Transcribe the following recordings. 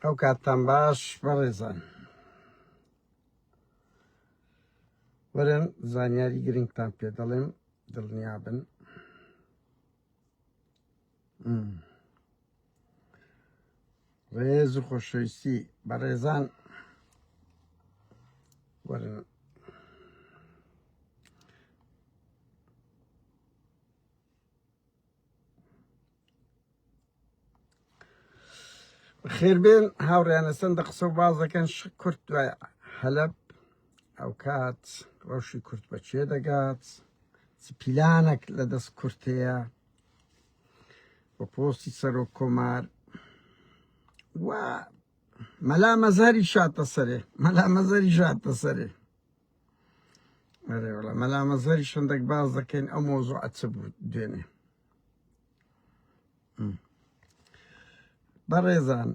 ئەو کاتتان باش بەڕێزان وەرن زانیاری گرنگتان پێ دەڵێم دڵنیا بن ڕێز و خۆشەویستی بەڕێزان وەرن خێربێن هاوڕیانە سندە قسە و باز دەکەن شک کورت دوای حەلب ئەو کات ڕەوشی کورت بە چێ دەگات پیلانێک لە دەست کورتەیە بە پۆستی سەرۆک کۆمار و مەلا مەزاری شاتە سەرێ مەلا مەزاری شاتە سەرێ ئەرێ وڵا مەلا مەزەری شندێک باز دەکەین ئەو مۆزوع چ بوو دوێنێ بەڕێزان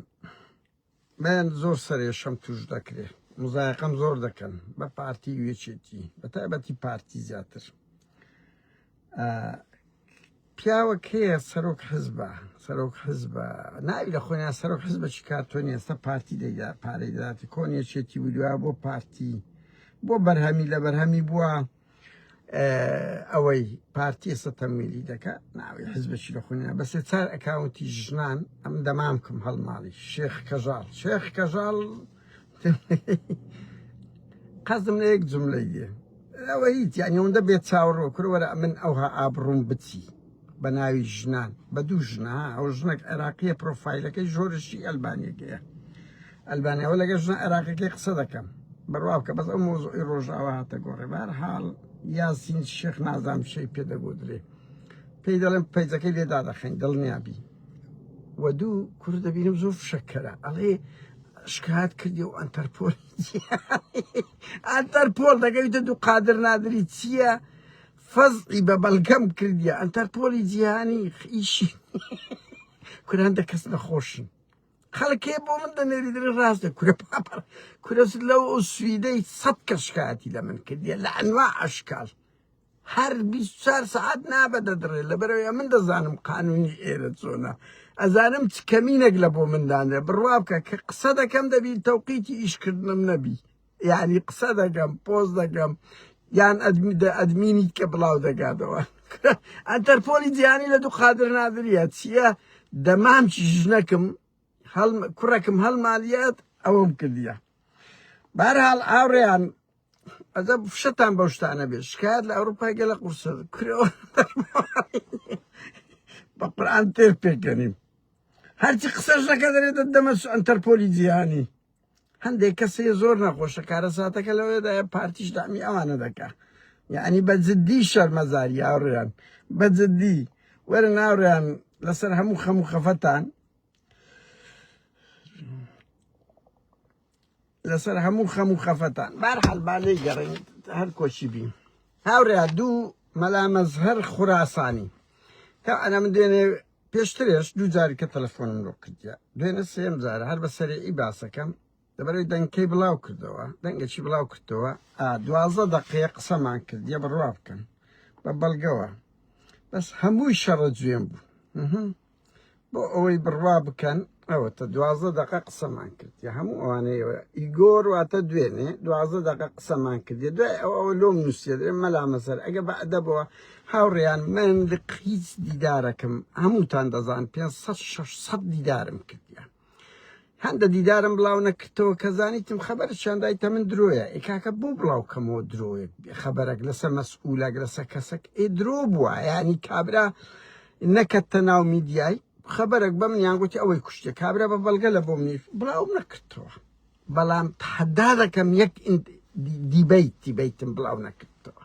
بەیان زۆر سەرێشەم توش دەکرێت مزایقەم زۆر دەکەن بە پارتی وێچێتی بە تایبەتی پارتی زیاتر پیاوە کێیە سەرۆک حزبە سەرۆک حزبە ناوی لە خۆیان سەرۆک حزبە چی کار تۆ نیێستا پارتی دەگا پارەی دەاتی کۆن یەکێتی ودویا بۆ پارتی بۆ بەرهەمی لە بەرهەمی بووە ئەوەی پارتی ئێستا تەمویلی دەکە ناوی حزبەکی لە خۆنیان بەسێ چار ئەکاونتی ژنان ئەم دەمامکم هەڵماڵی شێخ کەژاڵ شێخ کەژاڵ شێخ قەزم لە یەک جملە یە ئەوە هیچ یعنی ئەوەندە بێت چاوەڕۆ کرەوەرە من ئەوها ئابڕوم بچی بە ناوی ژنان بە دوو ژنا ئەو ژنێک عێراقیە پرۆفایلەکەی ژۆرشی ئەلبانیەکەیە ئەلبانیەوە لەگە ژنە عێراقەکەی قسە دەکەم بەڕوا بکە بەس ئەو مۆزۆی ڕۆژاوە هاتە گۆڕێ بار حاڵ یاسین شێخ نازام شەی پێ دەگۆدرێ پێی دەڵێن پەیجەکەی لێدا دەخەین دڵنیابی و دوو کورد دەبینم زۆر فشەکەرە ئەڵێ شکات کردی و ئەتەرپۆل ئەتەرپۆل دەگەویتە دوو قادر نادری چییە فەزی بە بەڵگەم کردیە ئەتەرپۆلی جیهانی ئیشی کوران دە کەس نەخۆشن خەڵکێ بۆ من دەنێری دەێ ڕاست دە کورە پاپەر کورەس لەو ئەو سویدەی سەد کە شکاتی لە من کردیە لە ئەنوا ئەشکال هەر بیست و چوار سەعات نا بە دەدڕێ لەبەرەوەی ئەمن دەزانم قانونی ئێرە چۆنە ئەزانم چ کەمینەک لە بۆ من دانرێ بڕوا بکە کە قسە دەکەم دەبی تەوقیتی ئیشکردنم نەبی یعنی قسە دەگەم پۆز دەگەم یان ئەدمی دە ئەدمینیت کە بڵاو دەگاتەوە ئەتەرپۆلی جیانی لە دوو قادر نادریە چییە دەمام چی ژنەکم هەڵ کوڕەکم هەڵمالیات ئەوەم کردیە بارحاڵ ئاوڕیان ئەدە فشەتان بەو شتانە بێت شکایەت لە ئەوروپای گەلە قورسە کرێوە بە قورآن تێر پێکەنیم هەرچی قسەش نەکە دەرێت دەمە ئەنتەرپۆلی جیهانی هەندێک کەسی زۆر نەخۆشە کارە ساتەکە لەوێدا پارتیش دامی ئەوانە دەکا یعنی بە جددی شەرمەزاری یاڕیان بە جددی وەرە ناوریان لەسەر هەموو خەموو خەفەتان لەسەر هەموو خەم و خەفەتان بارحال با لێی گەڕین هەر کۆچی بین هاورێ دوو مەلا مەزهەر خوراسانی تا ئەنا من دوێنێ پێشترێش دوو جاری کە تەلەفۆنم لۆ کردیا دوێنە سێم جار هەر بە سەرێ ئی باسەکەم لەبەرەوەی دەنگکەی بڵاو کردەوە دەنگەکی بڵاو کردەوە دوازە دەقەیە قسەمان کردە بڕوا بکەن بە بەڵگەوە بەس هەمووی شەڕە جوێن بوو بۆ ئەوەی بڕوا بکەن ئەوە تا دوازدە دقە قسەمان کرد یا هەموو ئەوانەیە ئیگۆر واتە دوێنێ دوازدە دقە قسەمان کردێ دوای ئەو ئەوە لۆم نووسێت مەلا مەسەر ئەگە بە ئەدەبەوە هاوڕیان من هیچ دیدارەکەم هەمووتان دەزان 500 600 دیدارم کردیان هەندە دیدارم بڵاو نەکردەوە کە زانیتم خەبەر چاندایتە من درۆیە ئێ کاکە بۆ بڵاو کەمەوە درۆیەک خەبەرەک لەسە مەسئولەک لەسە کەسەک ئێ درۆ بووە ینی کابرا نەکەتە ناو میدیای خەبەرەک بە منیان گوتی ئەوەی کوشتێ کابرا بە بەڵگە لە بۆ منی بڵاو نەکردەوە بەڵام تحدا دەکەم یەک دیبیت دیبیتم بڵاو نەکردەوە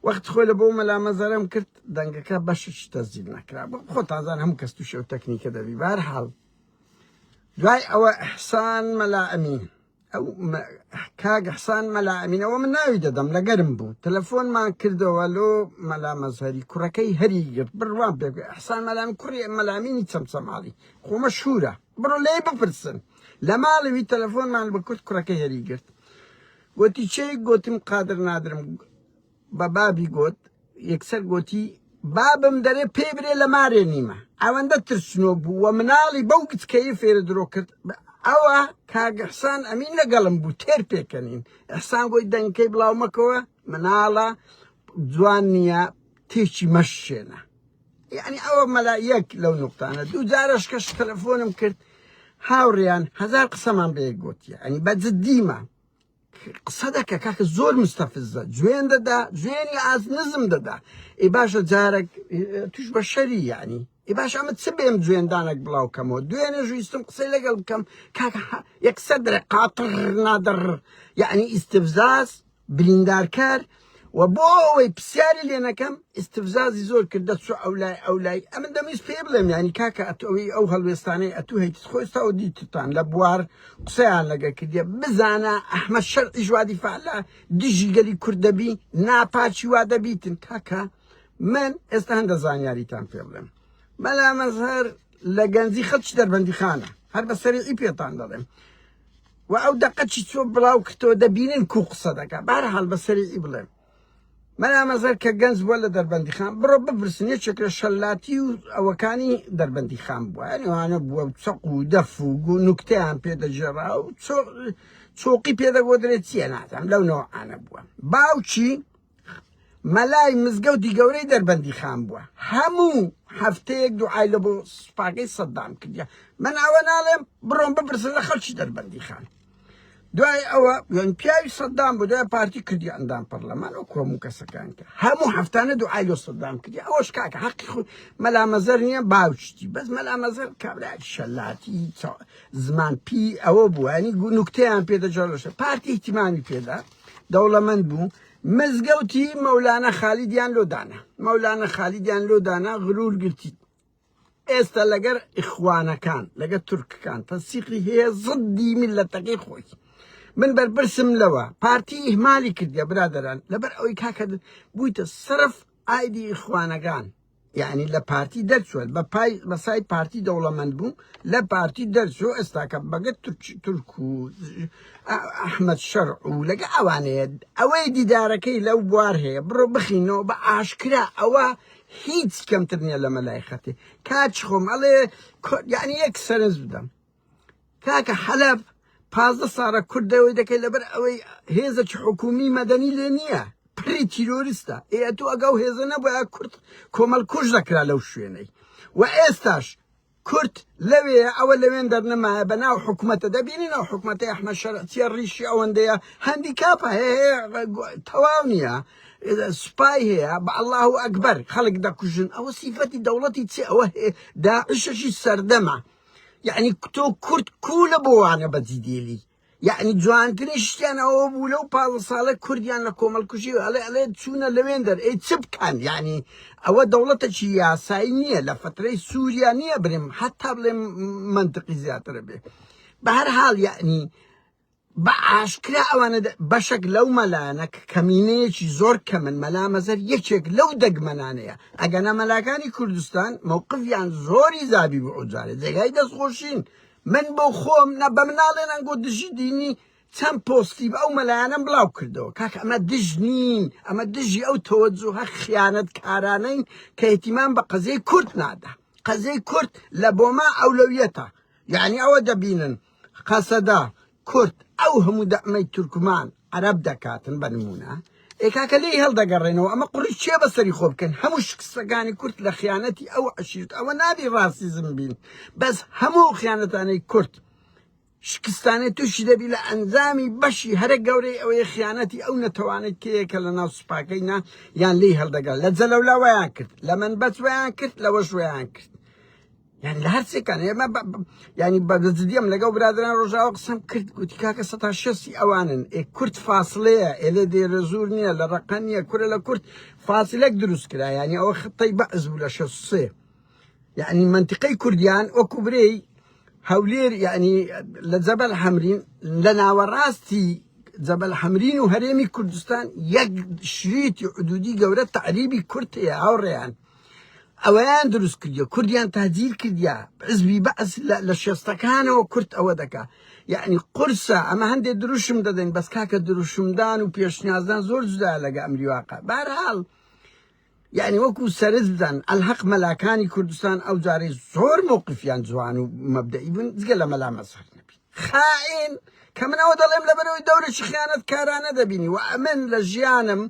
وەخت خۆی لە بۆ مەلا مەزەرەم کرد دەنگەکە بەشش تەزیل نەکرا خۆ تازان هەموو کەس تووشێ و تەکنیکە دەبی بار حاڵ دوای ئەوە حسان مەلا ئەمین ئەو کاگە حسان مەلا ئەمینەوە من ناوی دەدەم لەگەرم بوو تەلەفۆنمان کردەوە لۆ مەلا مەزهری کوڕەکەی هەری گرت بڕوان پێ حسان مەلام کوڕی مەلامینی چەمچەماڵی خۆمە شورە بڕۆ لێ بپرسن لە ماڵەوی تەلەفۆنمان بە کورت کوڕەکەی هەری گرت گۆتی، چێ؟ گۆتم، قادر نادرم. بە بابی گۆت، یەکسەر گۆتی، بابم دەرێ پێی برێ لە مارێ نیمە. ئەوەندە ترسنۆک بوو و مناڵی بەو گچکەیی فێرە درۆ کرد. ئەوە کاک ئیحسان ئەمین لە گەڵم بوو، تێر پێکەنین. ئیحسان گۆی، دەنگەکەی بڵاو مەکەوە، مناڵە، جوان نییە، تێکی مەشکێنە. یانی ئەوە مەلا یەک لەو نوقتانە دوو جارەش کەش تەلەفۆنم کرد هاوڕیان هەزار قسەمان بە یەک گوتیە ئەنی بە جدیمە قسە دەکە کاکە زۆر مستەفزە جوێن دەدا جوێنی ئاز نزم دەدا ئێ باشە جارێک توش بە شەری یعنی ئێ باش ئەمە چ بێم جوێندانێک بڵاو کەمەوە دوێنێ ژویستم قسەی لەگەڵ بکەم کاکە یەکسەر دەرێ قاتڕ نادڕ یعنی ئیستفزاز بریندارکار و بۆ ئەوەی پرسیاری لێ نەکەم ئیستفزازی زۆر کرد دەچوو ئەو لای ئەو لای ئەمن دەمویست پێ بڵێم ینی کاکە ئەتۆی ئەو هەڵوێستانەی ئەتوو هەیت خۆی ساو دیتتان لە بوار قسەیان لەگە کردە بزانە ئەحمە شەرعی ژوادی فعلا دژی گەلی کورد دەبی ناپاچی وا دەبیتن کاکە من ئێستا هەندە زانیاریتان پێ بڵێم مەلا مەزهر لە گەنجی خەڵکی دەربەندی خانە هەر بە سەرعی پێتان دەڵێم وە ئەو دەقە چی چۆ بڵاو کردەوە دەبینن کو قسە دەکا بارحال بە سەری ئی بڵێم مەلامەزەر کە گەنج بووە لە دەربەندی خان بڕۆ بپرسن یەکێک لە شەلاتی و ئەوەکانی دەربەندی خان بووە ئەوانە بووە چەق و دەف و نوکتیان پێدەجێڕا و چۆقی پێدەگۆدرێت چیە نازانم لەو نەوەعانە بووە باوکی مەلای مزگەوتی گەورەی دەربەندی خان بووە هەموو هەفتەیەک دوعای لە بۆ سوپاکەی سەددام کردیا من ئەوە ناڵێم بڕۆم بپرسن لە خەڵکی دەربەندی خان دوای ئەوە یان پیاوی سەددام بۆ دوای پارتی کردی ئەندام پەرلەمان و کۆم و کەسەکان کرد هەموو هەفتانە دوعای لۆ سەددام کردی ئەوەش کاکە حەقی خود مەلامەزەر نییە باوشتی بەس مەلامەزەر کابراکی شەلاتی زمان پی ئەوە بووانی گو نوکتیان پێدەجارشە پارتی احتیمامی پێدات دەوڵەمەند بوو مزگەوتی مەولانە خالیدیان لۆدانە مەولانە خالیدیان لۆدانە غرور گرتیت ئێستا لەگەر ئیخوانەکان لەگە تورکەکان تەسیقی هەیە زدی میلەتەکەی خۆی من بەرپرسم لەوە پارتی ئیهمالی کردە برادران لەبەر ئەوەی کاکە بوویتە سرف ئایدی ئیخوانەکان یەعنی لە پارتی دەرچووە بە پای بەسای پارتی دەوڵەمەند بوو لە پارتی دەرچوو ئێستاکە بەگەت تورک و ئەحمد شەر و لەگە ئەوانەیە ئەوەی دیدارەکەی لەو بوار هەیە بڕۆ بخینەوە بە ئاشکرا ئەوە هیچ کەمتر نییە لە مەلای خەتی کاچ خۆم ئەڵێ یعنی یەک سەرنج بدەم کاکە حەلەب پازدە ساڵە کورد دەوەی دەکەی لەبەر ئەوەی هێزەکی حکومی مەدەنی لێ نییە پڕی تیرۆریستە ئێ تو ئەگە و هێزە نەبووە کورد کۆمەڵ کوش دەکرا لەو شوێنەی و ئێستاش کورد لەوێ ئەوە لەوێن دەرنەمایە بە ناو حکوومەتە دەبینین ئەو حکوومەتی ئەحمە شەرعچیە ڕیشی ئەوەندەیە هەندی کاپە هەیە تەواو نییە سوپای هەیە بە الله و ئەکبەر خەڵک دەکوژن ئەوە سیفەتی دەوڵەتی چ ئەوە داعشەشی سەردەمە یعنی تۆ کورد کوولە بۆ وانە بەجی دێلی یعنی جوانترین شتیان ئەوە بوو لەو پاڵ ساڵە کوردیان لە کۆمەڵکوژی ئەڵێ ئەڵێ چوونە لەوێن دەر ئەی چ بکەن یعنی ئەوە دەوڵەتەکی یاسایی نییە لە فترەی سووریا نییە برم حتا بڵێ منتقی زیاترە بێ بە هەر حاڵ یعنی بە ئاشکرا ئەوانە بەشێک لەو مەلانە کەمینەیەکی زۆر کەمن مەلا مەزەر یەکێک لەو دەگمەنانەیە ئەگەنا مەلاکانی کوردستان مەوقفیان زۆری زابی بۆ ئەوجارێ جێگای دەستخۆشین من بۆ خۆم نە بە مناڵێنان گۆ دژی دینی چەند پۆستی بە ئەو مەلایەنم بڵاو کردەوە کاک ئەمە دژ نین ئەمە دژی ئەو تەوەجوهە خیانەت کارانەین کە احتیمان بە قەزیەی کورد نادا قەزیەی کورد لە بۆما ئەولەویەتە یعنی ئەوە دەبینن قەسەدە کورد ئەو هەموو دەعمەی تورکمان عەرەب دەکاتن بە نموونە ئێ کاکە لێی هەڵدەگەڕێنەوە ئەمە قوڕی چێ بەسەری خۆ بکەن هەموو شکستەکانی کورد لە خیانەتی ئەو عشیرت ئەوە نابی ڕاسیزم بین بەس هەموو خیانەتانەی کورد شکستانێ تووشی دەبی لە ئەنجامی بەشی هەرە گەورەی ئەوەیە خیانەتی ئەو نەتەوانەی تەیەکە لە ناو سوپاکەی نا یان لی هەڵدەگەل لە جەلەولاوەیان کرد لە من بەچوەیان کرد لەوەشوەیان کرد یعنی لە هەرچێکان ئێمە ینی بەگەزدیم لەگەڵ برادران ڕۆژاوە قسم کرد گوتی کاکە سە تا شەستی ئەوانن ئێ کورت فاصلەیە ئێلێ دێرە زور نییە لە ڕقە نییە کورە لە کورت فاصلەک دروست کرا ینی ئەوە خطەی بەعز بوو لە شەسێ یعنی منطقەی کوردیان وەکو برێی هەولێر یعنی لە جەبەل حەمرین لە ناوەڕاستی جەبەل حەمرین و هەرێمی کوردستان یەک شریتی حدودی گەورە تعریبی کورتەیە هاوڕێیان ئەوەیان دروست کردیە کوردیان تاجیل کردیا حزبی بەعس لە شێستەکانەوە کورت ئەوە دەکا یعنی قرسە ئەمە هەندێک دروشم دەدەین بەس کاکە دروشمدان و پێشنیازدان زۆر جدا لەگە ئەمری واقع بارحاڵ یعنی وەکو سەرز بدەن ئەلحەق مەلاکانی کوردستان ئەو جارەی زۆر مووقفیان جوان و مەبدەئی بوون جگە لە مەلا مەسەر نەبی خائین کە منەوە دەڵێم لەبەرەوەی دەورێکی خیانەت کارانە دەبینی و ئەمن لە ژیانم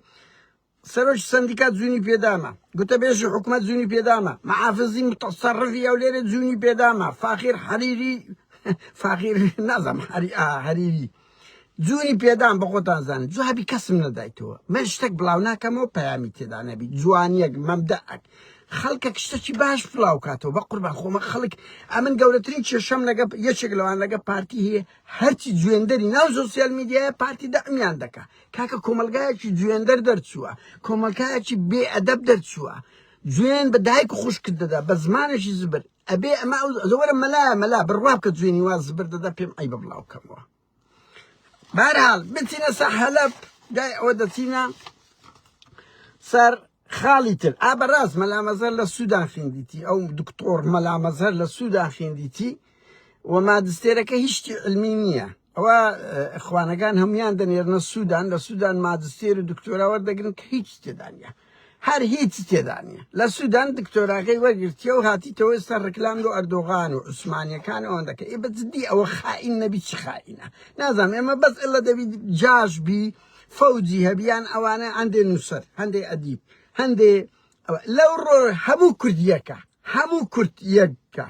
سەرۆکی سەندیکا جوونی پێداما، گوتەبێژی حکومەت جوونی پێداما، مەحافزی موتەسەڕفی هەولێرێ جوونی پێداما، فاخیر حەریری، فاخیر نازانم حەری ئا هەریری، جوونی پێدام بە خۆتان زانن، جوابی کەسم نەدایتەوە، من شتێک بڵاو ناکەمەوە پەیامی تێدا نەبی، جوانییەک، مەبدەئەک، خەڵکێک شتێکی باش بڵاو کاتەوە، بەقوربان خۆمە خەڵک، ئەمن گەورەترین کێشەم لەگە یەکێک لەوان لەگە پارتی هەیە، هەرچی جوێندەری ناو زۆسیال میدیایە پارتی دەعمیان دەکا، کاکە کۆمەلگایەکی جوێندەر دەرچووە کۆمەلکایەکی بێ ئەدەب دەرچووە جوێن بە دایک و خوشکت دەدا بە زمانێکی زبر ئەبێ ئەمە زەوەرە مەلا مەلا بڕوا بکە جوێنی واز زبر دەدا پێم ئەی بە بڵاو کەمەوە بارحال بچینە سە حەلب دای ئەوە دەچینە سەر خاڵی تر ئا بەراست مەلا مەزهەر لە سوودان خیندیتی ئەو دکتۆر مەلا مەزهەر لە سوودان خیندیتی و مادستێرەکە هیچی علمی نییە ئەوە خوانەکان هەمویان دەنێرنە سوودان لە سوودان مادستێر و دکتۆرا وەردەگرن کە هیچ تێدانە هەر هیچ تێدانە لە سوودان دکتۆراکەی وەرگرتیە و هاتیتەوە ئێستا ڕکلام لۆ ئەردۆغان و عوسمانیەکان ئەوەن دەکە ئێ بە جدی ئەوە خائین نەبی چ خائینە نازانم ئێمە بەس ئلە دەبی جاش بی فەوجی هەبی یان ئەوانە هەندێ نووسەر هەندێ ئەدیب هەندێ لەو ڕۆ هەموو کوردیەکە هەموو کورد یەککە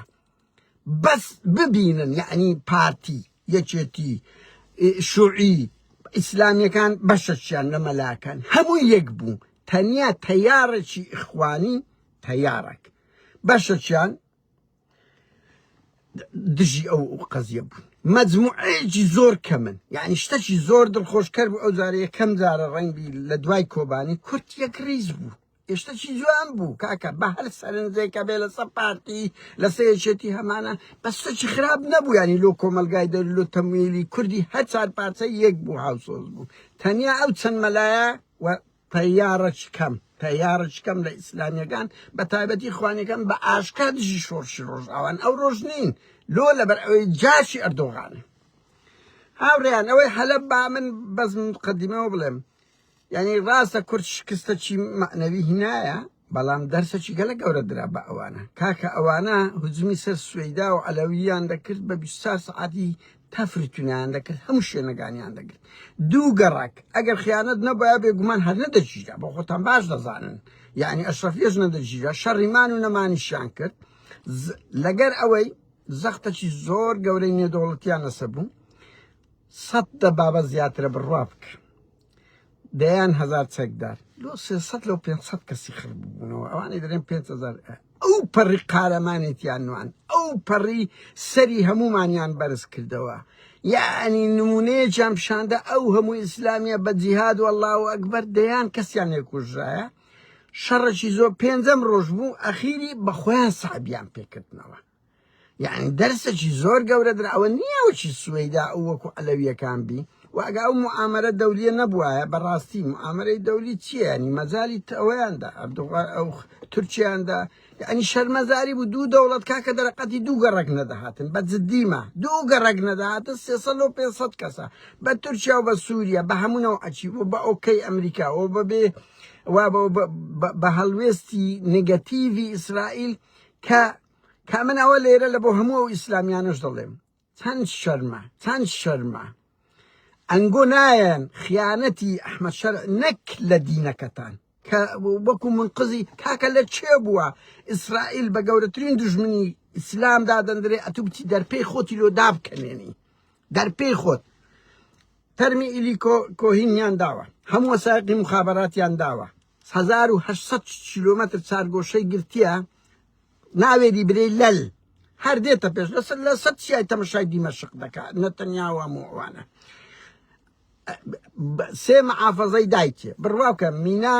بەس ببینن یعنی پارتی یەکێتی شوعی ئیسلامیەکان بەشەچیان لە مەلاکان هەموو یەک بوو تەنیا تەیارەکی ئیخوانی تەیارەک بەشەچیان دژی ئەو قەزیە بوون مەجموعەیەکی زۆر کەمن یعنی شتەکی زۆر دڵخۆشکەر بوو ئەو جارەیە کەم جارە ڕەنگی لە دوای کۆبانی کورت یەک ریز بوو ئێشتەکی جوان بوو کاکە بە هەر سەرنجێکە بێ لەسەر پارتی لەسەر یەکێتی هەمانە بەستەکی خراپ نەبوو ینی لۆ کۆمەلگای دەر لۆ تەمویلی کوردی هەر چار پارچە یەک بوو هاوسۆز بوو تەنیا ئەو چەند مەلایە و تەیارەچکەم، تەیارەچکەم لە ئیسلامیەکان بە تایبەتی ئیخوانیەکان بە ئاشکا دژی شۆڕشی ڕۆژئاوان ئەو ڕۆژ نین لۆ لەبەر ئەوەی جاشی ئەردۆغانن هاوڕێیان ئەوەی حەلەب با من بەس مقدمەوە بڵێم یعنی ڕاستە کورد شکستە چی معنەوی هینایە بەڵام دەرسەکی گەلە گەورە درا بە ئەوانە کاکە ئەوانە هجومی سەر سوەیدا و عەلەوییان دەکرد بە بیست چار سەعاتی تەفری تونایان دەکرد هەموو شوێنەگانیان دەگرت دوو گەڕەک ئەگەر خیانەت نەبایە بێگومان هەر نەدەگیرا بۆ خۆتان باش دەزانن یعنی ئەشرەفیش نەدەگیرا شەڕی مان و نەمانیشیان کرد لەگەر ئەوەی زەختەکی زۆر گەورەی نێدەوڵەتیان لەسەر بوو سەد دەبابە زیاترە بڕوا بکە دەیان هەزار چەکدار لۆ سێ سەد لەو پێنج سەد کەسی خڕ ببوونەوە ئەوانەی دەرێن پێنج هەزار ئەو پەڕی قارەمانێتیان نوان ئەو پەڕی سەری هەمومانیان بەرز کردەوە یعنی نمونەیەکیان پیشاندە ئەو هەموو ئیسلامیە بە جیهاد و الله و ئەکبەر دەیان کەسیان لێکوژرایە شەڕەکی زۆر پێنجەم ڕۆژ بوو ئەخیری بە خۆیان سابیان پێکردنەوە یانی دەرسەکی زۆر گەورەدرا ئەوە نییە وەکی سوەیدا ئەو وەکو عەلەویەکان بی و ئەگا ئەو معامەرە دەولیە نەبوایە بەڕاستی معامەرەی دەولی چییە ینی مەجالی ئەوەیاندا ئەردوغان ئەو تورکیاندا یعنی شەرمەزاری بوو دوو دەوڵەت کاکە دەرەقەتی دوو گەڕک نەدەهاتن بە جدیمە دوو گەڕک نەدەهاتن سێسەد و پێسەد کەسە بە تورکیا و بە سووریا بە هەمونەوە ئەچی و بە ئۆکەی ئەمریکا و بەبێ و بە هەڵوێستی نگەتیڤی ئیسرائیل کە کە من ئەوە لێرە لە بۆ هەموو ئەو ئیسلامیانەش دەڵێم چەند شەرمە چەند شەرمە ئەنگۆ نایەن خیانەتی ئەحمەد شەر نەک لە دینەکەتان کە وەکو منقزی کاکە لە چێ بووە ئیسرائیل بە گەورەترین دژمنی ئیسلام دادەندرێ ئەتو بچی دەرپێی خۆتی لۆ دابکەنێنی دەرپێی خۆت تەرمی ئیلی کۆهینیان داوە هەموو ساقی مخاباتیان داوە هەزار و هەشت سەد کیلۆمەتر چارگۆشەی گرتیە ناوێری برێی لەل هەر دێتە پێش لەسەر لەسەر چیای تەمەشای دیمەشق دەکا نەتەنیاوە موعوانە سێ مەعافەزەی دایکێ بڕواکە مینا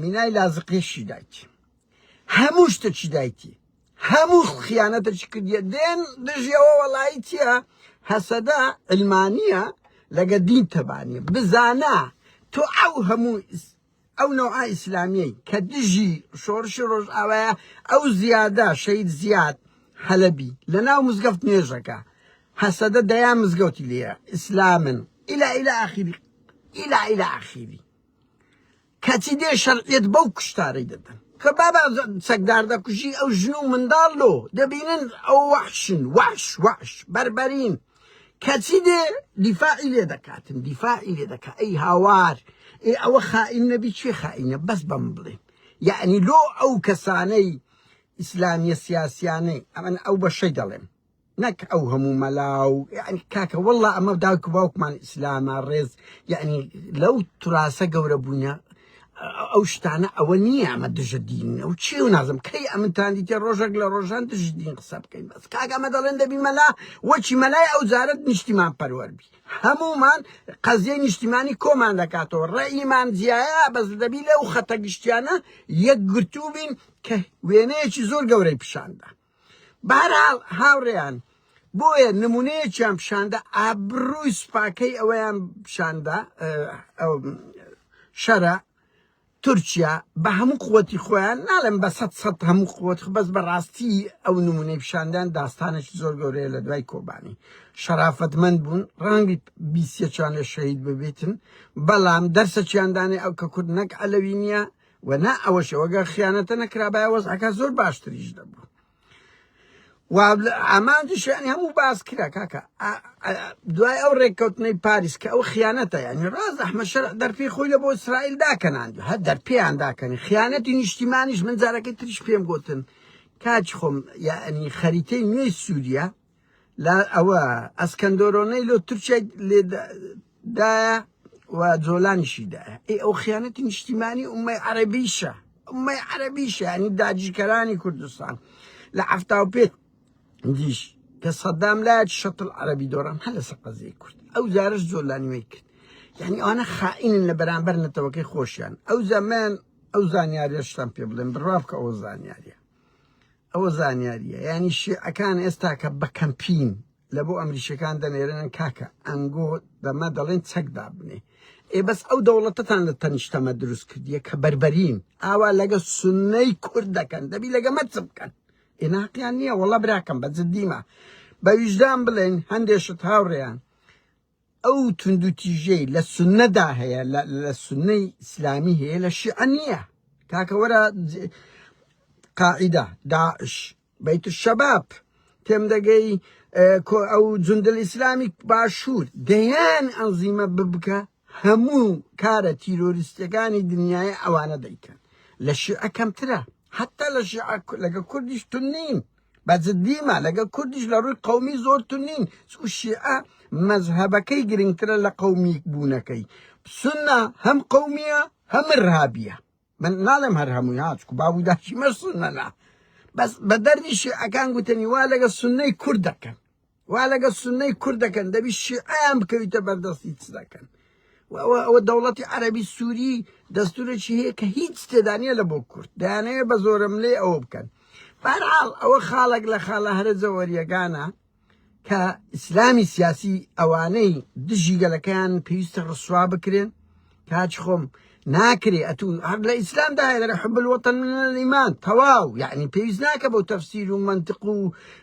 مینای لازقیشی دایکی هەموو شتەکی دایکی هەموو خیانەتەکی کردیە دێن دژیەوە وەڵایی چیە هەسەدە علمانیە لەگە دین تەبانیە بزانە تۆ ئەو هەموو ئەو نەوعە ئیسلامیەی کە دژی شۆرشی ڕۆژئاوایە ئەو زیادە شەید زیاد حەلەبی لە ناو مزگەفت نوێژەکە هەسەدە دەیان مزگەوتی لێە ئیسلامن ئیلا ئیلا ئاخیری ئیلا ئیلا ئاخیری کەچی دێ شەرعیت بەو کوشتارەی دەدەن کە بابا چەکدار دەکوژی ئەو ژن و منداڵ لۆ دەبینن ئەو وەحشن وەحش وەحش بەربەرین کەچی دێ دیفاعی لێ دەکاتن دیفاعی لێ دەکا ئەی هاوار ئێ ئەوە خائین نەبی چێ خائینە بەس بەم بڵێن یعنی لۆ ئەو کەسانەی ئیسلامیە سیاسیانەی ئەمن ئەو بەشەی دەڵێم نەک ئەو هەموو مەلاو یعنی کاکە والله ئەمە داوک باوکمان ئیسلامە ڕێز یعنی لەو توراسە گەورە بووینە ئەو شتانە ئەوە نییە ئەمە دژە دین ئەو چی و نازم کەی ئەمنتان دیتێ ڕۆژێک لە ڕۆژان دژ دین قسە بکەین بەس کاگەمە دەڵێن دەبی مەلا وەچی مەلای ئەو زارت نیشتیمان پەروەربی هەمومان قەزیەی نیشتیمانی کۆمان دەکاتەوە ڕێیمان جیایە بەس دەبی لەو خەتە گشتیانە یەکگرتوو بین کە وێنەیەکی زۆر گەورەی پیشاندا بەهەرحاڵ هاوڕێیان بۆیە نمونەیەکیان پیشاندا ئابرووی سوپاکەی ئەوەیان پیشاندا شەرە تورکیا بە هەموو قوتی خۆیان ناڵێم بە سەد سەد هەموو قوت بەس بەڕاستی ئەو نمونەی پیشاندان داستانێکی زۆر گەورەیە لە دوای کۆبانی شەرافەتمەند بوون ڕەنگی بیسیەکیان لە شەهید ببیتن بەڵام دەرسەکیاندانێ ئەو کە کورد نەک ئەلەوی نییە و نا ئەوەشەوە گەر خیانەتە نەکرابایە وەزعەکە زۆر باشتریش دەبوو ئامانجی شانی هەموو باس کرا کاکە دوای ئەو ڕێککەوتنەی پاریس کە ئەو خیانەتە یعنی ڕاز ئەحمە شەر دەرپی خۆی لە بۆ ئیسرائیل داکەنان هە دەرپیان داکەنی خیانەتی نیشتیمانیش من جارەکەی تریش پێم گوتن کاچ خۆم یعنی خەریتەی نوێی سووریا لە ئەوە ئەسکەندۆرۆنەی لۆ تورکیای لێدایە و جۆلانیشی دایە ئەی ئەو خیانەتی نیشتیمانی ئومەی عەربیشە ئومەی عەربیشە ینی داجیکەرانی کوردستان لە هەفتا و پێ دیش کە سەدام لایەت شەتڵ عەربی دۆڕان هە لە سەقەزی کورد ئەو جارش جۆلانیوەی کرد یعنی ئەوانە خائینن لە بەرامبەر نەتەوەکەی خۆشیان ئەو زەمن ئەو زانیاریشتان پێ بڵێن بڕاف کە ئەو زانیاریە ئەوە زانیاریە ینی شیعەکان ئێستا کە بە کەمپین لە بۆ ئەمریشەکان دەنێرێنن کاکە ئەنگۆ دەمە دەڵێن چەک دابنێ ئێ بەس ئەو دەوڵەتتان لە تەنیشتەمە دروست کردیە کە بربەرین ئاوا لەگە سنەی کورد دەکەن دەبی لەگە مەرچ بکەن ئێناقیان نییە وەڵە براکەم بە جددیمە بە ویژدان بڵێن هەندێشت هاوڕێیان ئەو توندوتیژیەی لە سونەدا هەیە لە سونەی ئیسلامی هەیە لە شیعە نییە کاکە وەرە قاعدە داعش بیت الشباب تێم دەگەی ئەو جندل ئیسلامی باشوور دەیان ئەنزیمە ببکە هەموو کارە تیرۆریستەکانی دنیای ئەوانە دەیکەن لە شیعە کەمترە حتا لە شیعە لەگە کوردیش تون نین بە جدی ما لەگەڵ کوردیش لە ڕووی قەومی زۆر تون نین چکو شیعە مەزهەبەکەی گرنگترە لە قەومیک بوونەکەی سنە هەم قەومیە هەم ارهابیە من ناڵێم هەر هەمووی ها چکو باب و داچی مەش سنەنا بەس بە دەردی شیعەکان گوتەنی وا لەگەڵ سنەی کورد دەکەن وا لەگەڵ سنەی کورد دەکەن دەبی شیعیان بکەویتە بەردەستی چ دەکەن ئەوە دەوڵەتی عەربی سووری دەستورێکی هەیە کە هیچ تێدانە لە بۆ کورد دەیانەیە بە زۆرم لێ ئەوە بکەن بارحاڵ ئەوە خاڵک لە خاڵە هەرە جەوەریەکانە کە ئیسلامی سیاسی ئەوانەی دژی گەلەکەیان پێویستە ڕسوا بکرێن کاچ خۆم ناکرێ ئەتو هەر لە ئیسلام دا هەیە لەگە حب الوطن من الإيمان تەواو یعنی پێویست ناکە بۆ تەفسیر و منطق و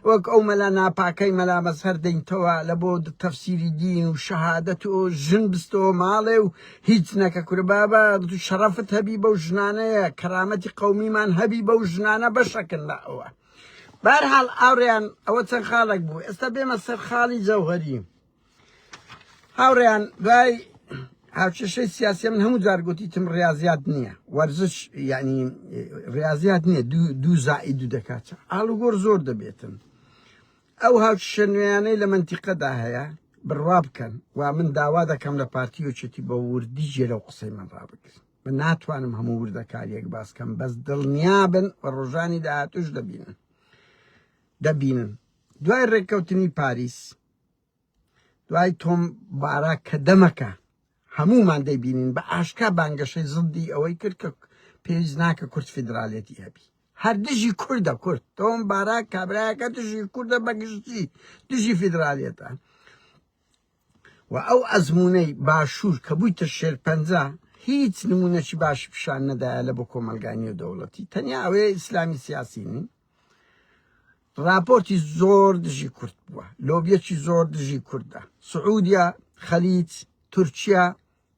وەک ئەو مەلا ناپاکەی مەلا مەزهەر دەینتەوە لە بۆ تەفسیری دین و شەهادەت و ژن بستەوە ماڵێ و هیچ نەکە کورە بابا تو شەڕەفت هەبی بەو ژنانەیە کەرامەتی قەومیمان هەبی بەو ژنانە بەشەکن لە ئەوە بارحاڵ ئاوریان ئەوە چەند خاڵک بوو ئێستا بێمە سەر خاڵی جەوهەری هاوڕێیان دوای هاوکێشەی سیاسی من هەموو جار گوتیتم ڕاضیات نییە وەرزش یعنی ڕاضیات نییە دوو زائی دوو دەکات ئالوگۆر زۆر دەبێتن ئەو هاوکیشە نوێیانەی لە منتیقەدا هەیە بڕوا بکەن و من داوا دەکەم لە پارتی وچێتی بە وردی جێ لەو قسەی من ڕابگرن من ناتوانم هەموو وردەکاریەک باسکەم بەس دڵنیا بن و ڕۆژانی داهاتوش دەبینن دەبینن دوای ڕێککەوتنی پاریس دوای تۆم بارا کە دەمەکە هەموومان دەیبینین بە ئاشکا بانگەشەی زندی ئەوەی کرد کە پێویست ناکە کورد فیدراالەتی هەبی هەر دژی کوردە کورد تۆم بارا کابراەکە دژی کوردە بەگشتی دژی فیدراالەتە و ئەو ئەزمونەی باشوور کە بوویتە شێرپەنجە هیچ نمونەشی باشی پیشان نەدایە لە بۆ کۆمەلگانی و دەوڵەتی تەنیا ئەوەیە ئیسلامی سیاسی نین ڕاپۆرتی زۆر دژی کورد بووە لۆبیەکی زۆر دژی کوردە سعودیا خەلیج تورکیا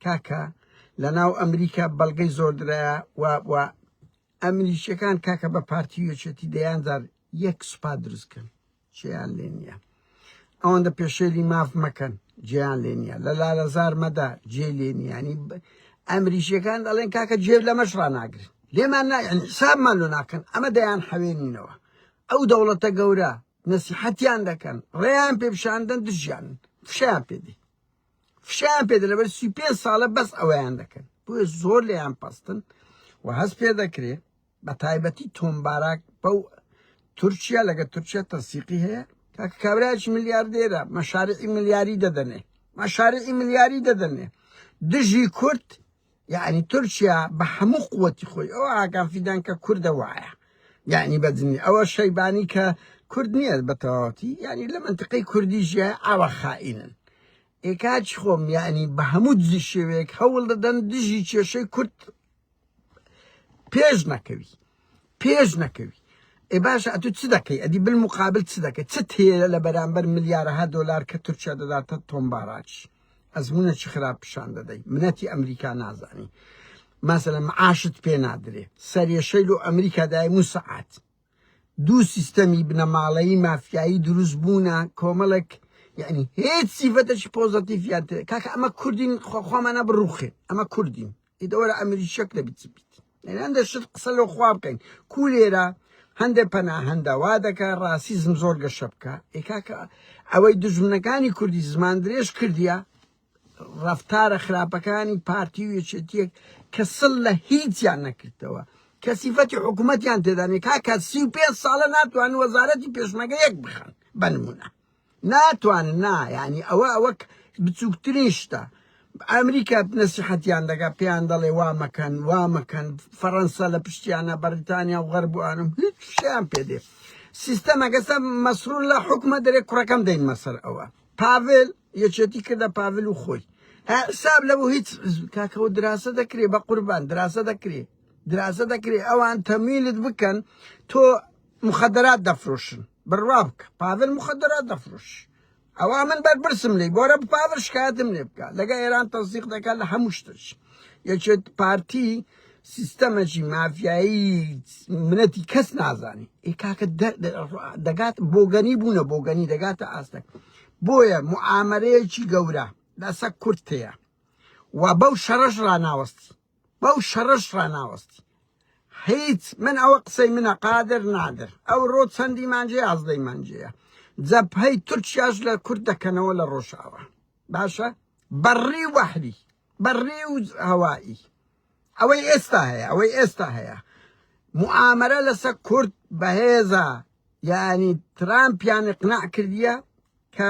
کاکە لە ناو ئەمریکا بەڵگەی زۆردرایە و ئەمریکیەکان کاکە بە پارتی یەکێتی دەیانجار یەک سوپا دروستکەن جێیان لێ نییە ئەوەندە پێشێلی ماف مەکەن جێیان لێ نییە لە لالەزار مەدا جێ لێ نیانی ئەمریشیەکان دەڵێن کاکە جێ لەمەش ڕناگرن لێمان حسابمان لۆ ناکەن ئەمە دەیان حەوێنینەوە ئەو دەوڵەتە گەورە نەسیحەتیان دەکەن ڕێیان پێ پیشاندن دژیان فشیان پێدی فشیان پێ لەبەر سی پێ ساڵە بەس ئەویان دەکەن بۆیە زۆر لێیان پستن و هەست پێ دەکرێت بە تایبەتی تۆم باراک بەو تورکیا لەگە تورکیا تەسیقی هەیە کاکە کابراش ملیاردێرە مەشارعی ملیاری دەدەنێ مەشارعی ملیاری دەدەنێ دژی کورد یعنی تورکیا بە هەموو قوتی خۆی ئەو ئاگان فیدان کە کوردە وایە یعنی بەجنی ئەوە شەیبانی کە کورد نییە بە تەواوەتی یعنی لە منتقەی کوردی ژە ئاوە خائینن ئێکاچ خۆم یعنی بە هەموو دزی شێوەیەک هەوڵ دەدەن دژی کێشەی کورد پێش نەکەوی پێش نەکەوی ئێ باشە ئەتو چ دەکەی ئەدی بل مقابل چ دەکەی چ تێرە لە بەرامبەر ملیارەها دۆلار کە تورکیا دەداتە تۆمباراچ ئەزمونە چ خراپ پیشان دەدەی منەتی ئەمریکا نازانی مەسەلە معاشت پێ نادرێ سەرێشەیل و ئەمریکا دای موسعات دوو سیستەمی بنەماڵەیی مافیایی دروست بوونە کۆمەڵێک یعنی هیچ سیفەتەشی پۆزەتیفیان تێ کاکە ئەمە کوردین خۆمانە بڕوخێ ئەمە کوردین ئیدەوەرە ئەمری شەک لە بیت بیت هەندە شت قسە لە خوا بکەین کو لێرە هەندێک پەناهەندە وا دەکە ڕاسیزم زۆر گەشە بکە ئێکاکە ئەوەی دژمنەکانی کوردی زمان درێژ کردیە ڕەفتارە خراپەکانی پارتی و یەکێتیەک کە سڵ لە هیچیان نەکردەوە کە سیفەتی حکوومەتیان تێدانێ کاکە سی و پێ ساڵە ناتوان وەزارەتی پێشمەگە یەک بخەن بنمونە ناتوان نا ینی ئەوە ئەوە بچووکترین شتە ئەمریکا نەسیحەتیان دەگا پێیان دەڵێ وا مەکەن وا مەکەن فەڕەنسا لە پشتیانە بەریتانیا و غەربوانم هیچ شیان پێدێ سیستەمەگەسە مەسرور لە حکومە دەرێ کوڕەکەم دەین مەسەر ئەوە پاڤل یەکێتی کردە پاڤل و خۆی ها حساب لەبوو هیچ کاکەوە دراسە دەکرێ بە قوربان دراسە دەکرێ دراسە دەکرێ ئەوان تەمیلت بکەن تۆ مخدرات دەفرۆشن بڕوا بکە پاڤل مخدرات دەفرۆش ئەوە من بەرپرسم لی بۆرە پاڤل شکایەتم لێ بکە لەگە ئێران تەزیق دەکات لە هەموو شتش یەکێت پارتی سیستەمەکی مافیایی منەتی کەس نازانی ئێ کاکە دەگات بۆگەنی بوونە بۆگەنی دەگاتە ئاستەک بۆیە موعامەرەیەکی گەورە لەسە کورد هەیە و بەو شەڕەش ڕاناوەستی بەو شەڕەش ڕاناوەستی هیچ من ئەوە قسەی منە قادر نادر ئەو ڕۆ چەندی مانجێ ئازدەی مانجەیە جەبهەی تورکیاش لە کورد دەکەنەوە لە ڕۆژاوە باشە بەڕی وەحری بەڕێ و هەوایی ئەوەی ئێستا هەیە ئەوەی ئێستا هەیە معامرە لەسە کورد بەهێزە یعنی ترامپیان اقناع کردیە کە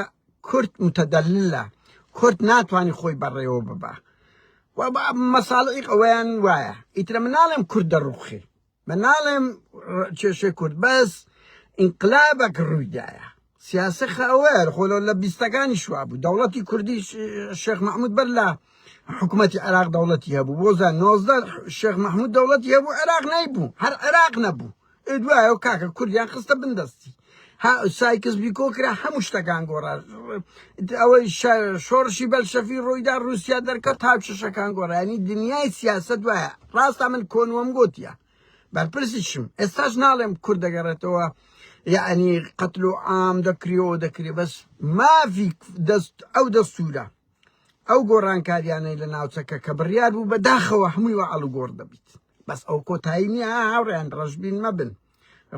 کورد متدللە کورد ناتوانانی خۆی بەڕێوە ببە مەساڵی ئەویان وایە ئیترە مناڵم کورد دەڕوخی من ناڵێم کێشەی کورد بەس ئینقلابەک ڕوویدایە سیاسە خاوەر خۆ لە بیستەکانی شوا بوو دەوڵەتی کوردی شێخ محمود بەر لە حکوومەتی عراق دەوڵەتی هەبوو بۆزە نۆزدە شێخ محمود دەوڵەتی هەبوو عراق نەیبوو هەر عراق نەبوو دوایە و کاکە کوردیان خستە بندەستی ها سایکس بیکۆ کرا هەموو شتەکان گۆڕا ئەوەی شۆڕشی بەلشەفی ڕوویدا رووسیا دەرکەوت هاوچەشەکان گۆڕانی دنیای سیاست وایە ڕاستە من کۆنوەم گوتیە بەرپرسیشم ئێستاش ناڵێم کورد دەگەڕێتەوە یعنی قەتل و عام دەکریەوە دەکرێ بەس مافی دەست ئەو دەستورە ئەو گۆڕانکاریانەی لە ناوچەکە کە بڕیار بوو بەداخەوە هەمووی وە ئەڵگۆڕ دەبیت بەس ئەو کۆتایی نییە ها هاوڕێیان ڕەشبین مەبن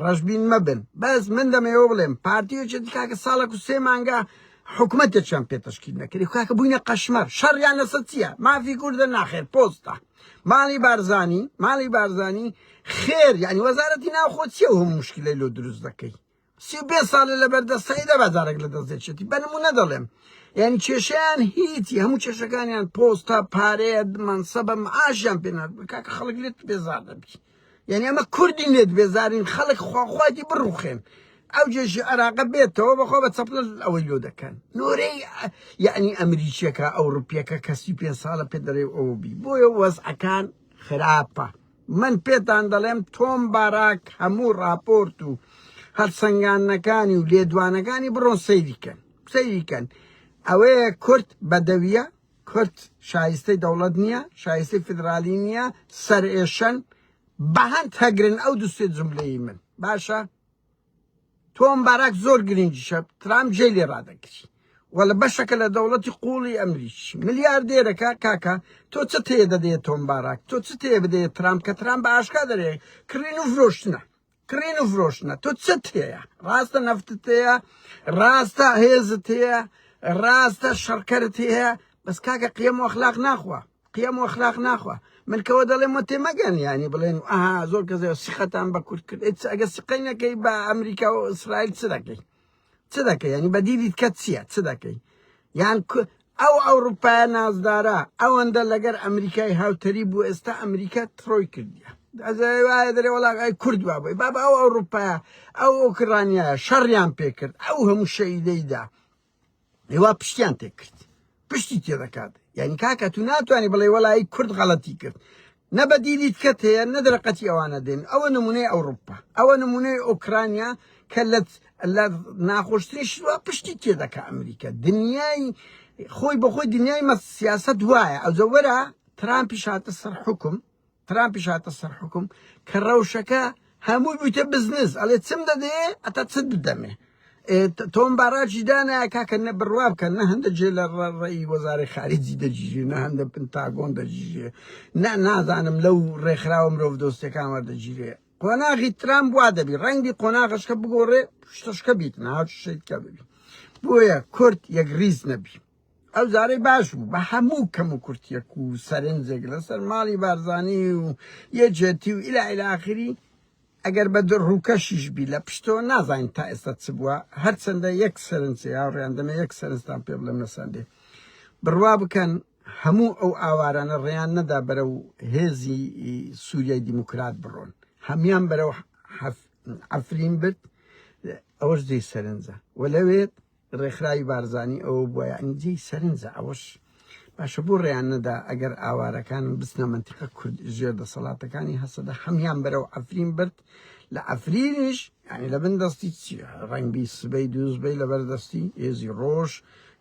ڕەشبین مەبن بەس من دەمەوێ بڵێم پارتی یەکێتی کاکە ساڵێک و سێ مانگە حکوومەتێکیان پێ تەشکیل نەکردی کاکە بووینە قەشمەر شەڕیان لەسە چییە مافی کوردە ناخێر پۆستە ماڵی بارزانی ماڵی بارزانی خێر یعنی وەزارەتی ناوخۆ چیە و هەموو مشکلەی لۆ دروست دەکەی سی و پێنج ساڵە لە بەردەستایی دەبا جارێک لە دەست دەچێتی بە نمونە دەڵێم یعنی کێشیان هیتی هەموو کێشەکانیان پۆستە پارەیە منسەبە معاشیان پێنات کاکە خەڵک لێت بێزار دەبی یعنی ئەمە کوردی لێت بێزارین خەڵک خواخواتی بڕوخێن ئەو جێژی عراقە بێتەوە بەخۆ بە چەپل ئەوەی لۆ دەکەن نۆرەی یعنی ئەمریکیەکە ئەوروپیەکە کەسی پێ ساڵە پێ دەرێ ئەو بی بۆیە وەزعەکان خراپە من پێتان دەڵێم تۆم باراک هەموو ڕاپۆرت و هەڵسەنگاندنەکانی و لێدوانەکانی بڕۆن سەیری کەن سەیری کەن ئەوەیە کورد بەدەویە کورد شایستەی دەوڵەت نییە شایستەی فیدرالی نییە سەرئێشەن بەهەند هەگرن ئەو دوسێ جملەی من باشە تۆم باراک زۆر گرنگی شە ترام جێ لێ ڕادەگری و لە بەشەکە لە دەوڵەتی قوڵی ئەمریکی ملیاردێرەکە کاکە تۆ چ تێ دەدەێت تۆم باراک تۆ چ تێ بدەێت ترام کە ترام بە ئاشکا دەرێ کڕین و فرۆشتنە کڕین و فرۆشتنە تۆ چ تێە ڕاستە نەفتت هەیە ڕاستە هێزت هەیە ڕاستە شەڕکەرت هەیە بەس کاکە قیەم و ئەخلاق ناخوا قیەم و ئەخلاق ناخوا من کەوە دەڵێم وە تێمەگەن یانی بڵێن ئەها زۆر کەزای سیقەتان بە کورد کرد ئێت ئەگە سقەی نەکەی بە ئەمریکا و ئیسرائیل چ دەکەی چ دەکەی ینی بەدیدیت کە چییە چ دەکەی یان ئەو ئەوروپای نازدارە ئەوەندە لەگەر ئەمریکای هاوتەری بوو ئێستا ئەمریکا تڕۆی کردیە ئەزای وایە دەرێ وڵاغای کورد بابی بابا ئەو ئەوروپایە ئەو ئۆکرانیا شەڕیان پێکرد ئەو هەموو شەیدەیدا لیوا پشتیان تێکرد پشتی تێ دەکات یعنی کاکە تو ناتوانانی بڵێ وەلایی کورد غەڵەتی کرد نە بەدیلیت کەت هەیە نە دەرەقەتی ئەوانە دێن ئەوە نمونەی ئەوروپا ئەوە نمونەی ئۆکرانیا کە لە لە ناخۆشترین شوە پشتی تێ دەکە ئەمریکا دنیای خۆی بەخۆی دنیای مە سیاست وایە ئەوجە وەرە ترامپی شاتە سەر حکم ترامپیش هاتە سەر حوکم کە ڕەوشەکە هەمووی بوویتە بزنس ئەڵێ چم دەدەیێ ئەتا چت بدەمێ تۆم باراجی دانایە کاکە نە بڕوا بکەن نە هەندە جێ لە ڕێی وەزارەی خارجی دەجیژێ نە هەندە پنتاگۆن دەجیژێ نە نازانم لەو ڕێکخراوە مرۆڤ دۆستەکان وەردەگیرێ قۆناغی ترام وا دەبی ڕەنگی قۆناغشکە بگۆڕێ شتشکە بیت ناوشتکە ببی بۆیە کورد یەک ریز نەبی ئەو جارەی باش بوو بە هەموو کەم و کورتیەک و سەرنجێک لەسەر ماڵی بارزانی و یەکێتی و ئیلا ئیلا ئاخری ئەگەر بە دڕ ڕووکەشیش بی لە پشتەوە نازانین تا ئێستا چ بووە هەرچەندە یەک سەرنجێ هاوڕێیان دەمێ یەک سەرنجتان پێ بڵێم لە سەندێ بڕوا بکەن هەموو ئەو ئاوارانە ڕێیان نەدا بەرە و هێزی سووریای دیموکرات بڕۆن هەمان بەرە و عفرین برد ئەوەش جێی سەرنجە و لەوێت ڕێکخراوی بارزانی ئەوە بوە یەعنی جێی سەرنجە ئەوەش باشە بۆ ڕێیان نەدا ئەگەر ئاوارەکان بچنە مەنتیقە کورد ژێر دەسەڵاتەکانی هەسەدە هەمیان بەرەو عەفرین برد لە عەفرینیش یعنی لە بن دەستی ڕەنگبی سبەی دووزبەی لەبەر دەستی هێزی ڕۆژ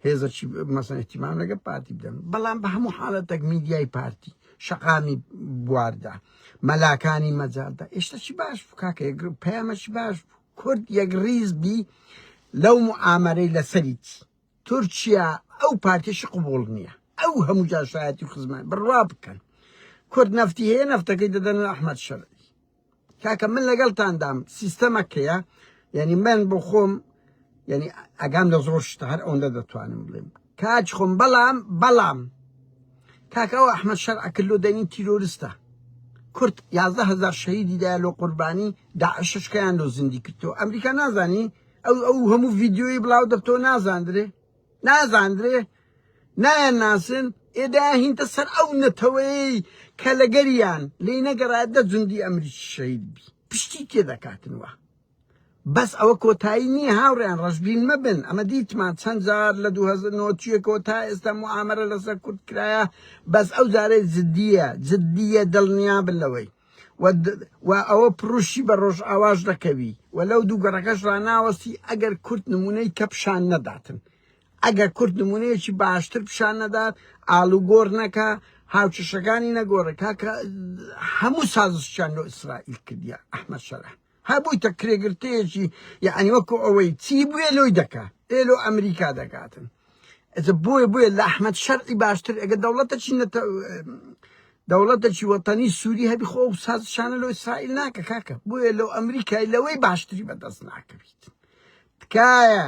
هێزەکی مەسەن احتیمام لەگە پارتی بدەن بەڵام بە هەموو حاڵەتەک میدیای پارتی شەقامی بواردا مەلاکانی مەجاردا ئێشتەکی باش بوو کاکە پەیامەکی باش بوو کورد یەک ریز بی لەو موعامەرەی لەسەریتی تورکیا ئەو پارتیشی قبوڵ نیە ئەو هەموو جاشایەتی و خزمان بڕوا بکەن کورد نەفتی هەیە نەفتەکەی دەدەن و ئەحمد شەرعی کاکە من لەگەڵتاندام سیستەمەکەیە یعنی من بۆ خۆم یعنی ئەگام لە زۆر شتە هەر ئەوەندە دەتوانم بڵێم کاج خۆم بەڵام بەڵام کاکە ئەو ئەحمەد شەرع کلۆ دەنگی تیرۆرستە کورد یازدە هەزار شەهیدی دایە لۆ قوربانی داعشش کەیان لۆ زیندی کردەوە ئەمریکا نازانی ئەو ئەو هەموو ڤیدیۆی بڵاو دەبتەوە نازاندرێ نازاندرێ نایان ناسن ئێدا هینتە سەر ئەو نەتەوەیەی کە لەگەریان لێی نەگەڕایە دە جوندی ئەمریکی شەهید بی پشتی تێ دەکاتن وە بەس ئەوە کۆتایی نیە هاوڕێیان ڕەشبین مەبن ئەمە دیتمان چەند جار لە دوو هەزار نۆ چیەکەوە تا ئێستا موعامەرە لەسەر کورد کرایە بەس ئەو جارەی جدیە جدیە دڵنیابن لەوەی و د- و ئەوە پڕوشی بە ڕۆژئاواش دەکەوی و لەو دوو گەڕەکەش ڕاناوەستی ئەگەر کورد نمونەی کە پیشان نەداتن ئەگەر کورد نمونەیەکی باشتر پیشان نەدات ئاڵوگۆڕ نەکا هاوچەشەکانی نەگۆڕێ کاکە هەموو سازشیان لۆ ئیسرائیل کردیە ئەحمەد شەرع هەبوویتە کرێگرتێیەکی یەعنی وەکو ئەوەی چی بوێ لۆی دەکا ئێ لۆ ئەمریکا دەکاتن ئەجە بۆیە بۆیە لە ئەحمد شەرعی باشتر ئەگە دەوڵەتەکی نەتە دەوڵەتەکی وەتەنی سووری هەبی خۆ و سازشانە لۆ ئیسرائیل ناکە کاکە بۆیە لەو ئەمریکای لەوەی باشتری بەدەست ناکەویت تکایە